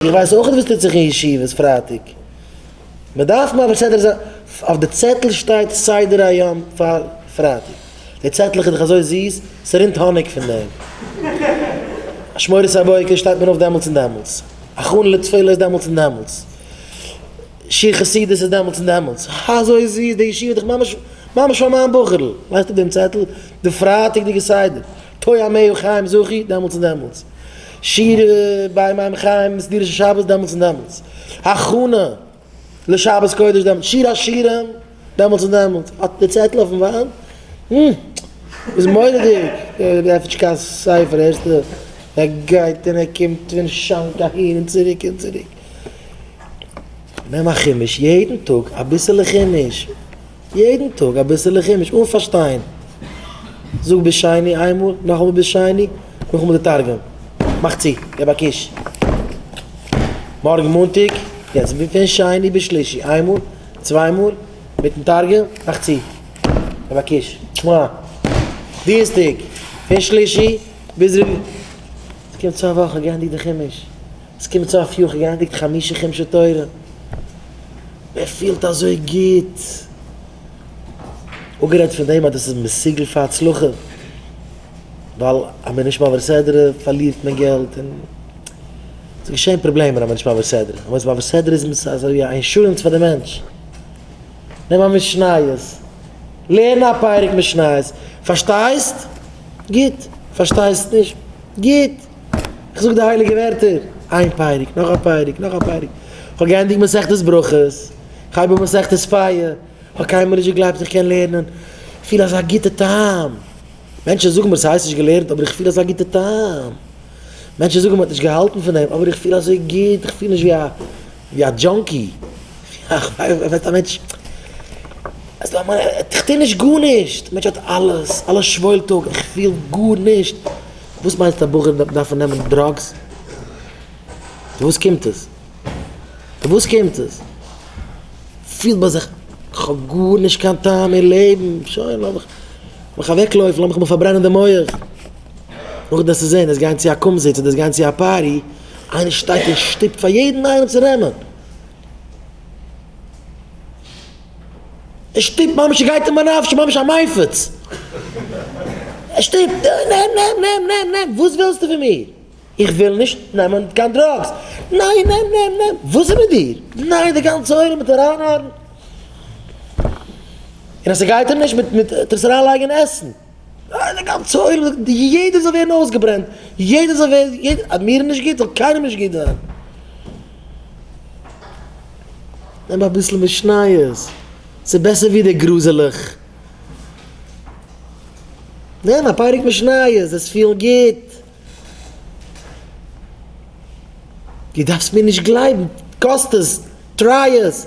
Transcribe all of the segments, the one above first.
איך ווייס אויך נישט וואס טוט זיך אין ישיבות פרייטאג, מען דארף מעביר סדר זיין, אויף די צעטל שטייט סדר היום פאר פרייטאג, די צעטלעך איז דאך אזוי זיס, ס'רינט האניג פון דעם, אשמורת הבוקר שטייט מען אויף דעמאלטס און דעמאלטס, הכנה לתפלה איז דעמאלטס און דעמאלטס, שיר חסידות איז דעמאלטס און דעמאלטס, אזוי זיס, די ישיבה איז דאך ממש ממש פאר מיין בחור'ל, לייגסט אפ דעם צעטל, די פרייטאג'דיגע סדר. תוה מ אור חיים זכי, דעמאלטס און דעמאלטס. שירה ביי מים חיים מסדירים של שבת, דעמאלטס און דעמאלטס. הכנה לשבת קודש, דעמאלטס. שיר השירים, דעמאלטס און דעמאלטס. אט די צעטל אויפן וואנט. הום. איז מורא'דיג. ער עפנט נישט קיין ספר. הערסטע? ער גייט און ער קומט פון שאנק אהין און צוריק און צוריק. נעם א חומש יעדן טאג, אביסעלע חומש. יעדן טאג אביסעלע חומש אן פארשטיין, זאג ביז שני איינמאל, נאכאמאל ביז שני, נאכאמאל די תרגום, מאך צו, געב א קוש, מארגן מאנטאג, יעצט פון שני ביז שלישי איינמאל, צוויי מאל, מיטן תרגום, מאך צו, געב א קוש, שמע, דינסטאג, פון שלישי ביז רביעי, ס'קומט צוויי וואכן גייענדיג די חומש. ס'קומט צו אויף יוכי גענדיגט חמשה חומשי תורה, ער פילט אזוי גוט, אפגערעדט פון דעם אז דאס איז מסוגל פאר הצלחה, ווייל אז מ'איז נישט מעביר סדרה פארלירט מען געלט און ס'איז געשען פראבלעמען אז מ'איז נישט מעביר סדרה, אז מ'איז מעביר סדרה איז מען אזויווי א אינשורענס פאר די מענטש, נעם א משניות, לערן א פרק משניות, פארשטייסט? גוט, פארשטייסט נישט? גוט. איך זאג די הייליגע ווערטער איין פרק נאך א פרק נאך א פרק, איך האב געענדיגט מסכת ברכות, איך הייב אן מסכת פיה, איך האב קיינמאל נישט געגלייבט איך קען לערנען, איך פיל אזא גוטע טעם, מענטשן זאגן מיר ס'הייסט נישט געלערנט אבער איך פיל אזא גוטע טעם, מענטשן זאגן מ'האט נישט געהאלטן פון דעם אבער איך פיל אזוי גוט, איך פיל נישט ווי א ווי א דזשאנקי, וועט א מענטש, איך טוה נישט גארנישט, א מענטש האט אלעס, אלעס שוואוילט אפ, איך פיל גארנישט. וואס מיינסטו א בחור וועט דארפן נעמען דראגס? פון וואס קומט עס? פון וואס קומט עס? פילט ביי זיך כ'האב גארנישט קיין טעם אין לעבן, שוין לאמיך לאמיך אוועקלויפן, לאמיך מיר פארברענען די מח. נאכדעם וועסטו זען, עס גיין צו א קומזיץ אדער עס גיין צו א פארטי, איינער שטייט און שטופט פאר יעדן איינעם צו נעמען. ער שטופט ממש ער גייט אין בנפש'ן ממש א מייפעץ ער שטופט נעם נעם נעם נעם נעם וואס ווילסטו פון מיר איך וויל נישט נעמען קיין דראגס ניין נעם נעם נעם וואס איז מיט דיר ניין די גאנצע עולם מיט אריינהארן און אז ס'גייט אים נישט מיט מיט טו עס אריינלייגן אין עסן. ניין די גאנצע עולם זאגט יעדער זאל ווערן אויסגעברענט יעדער זאל ווערן אז מיר איז נישט גוט זאל קיינעם נישט גוט זיין. נעם אביסל משניות ס'איז בעסער ווי די גרוזעלעך. נעם א פרק משניות זעסט פילן גוט. די דארפסט מיר נישט גלייבן קאסט עס טריי עס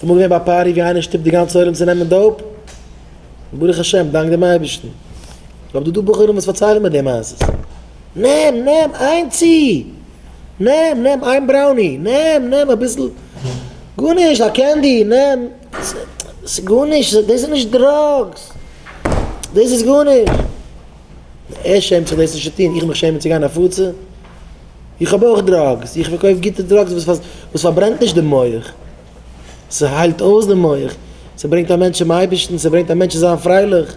ס'איז אמאל געווען ביי א פארטי ווי איינער שטופט די גאנצע עולם צו נעמען דאופ, און ברוך השם, דאנק דעם אייבערשטן, כ'האב דא דא בחורים וואס פארציילן מיר די מעשות, נעם, נעם, איין צי, נעם, נעם, איין בראוני, נעם, נעם, אביסל, גארנישט, א קענדי, נעם, ס'גארנישט, דאס איז נישט דראגס, דאס איז גארנישט, ער שעמט זיך דאס נישט צו טון, איך מיך שעמען צו גיין הפצה? איך האב אויך דראגס, איך פארקויף גוטע דראגס וואס פארברענט נישט די מח, ס'היילט אויס די מח, ס'ברענגט א מענטש צום אייבערשטן, ס'ברענגט א מענטש צו זיין פרייליך.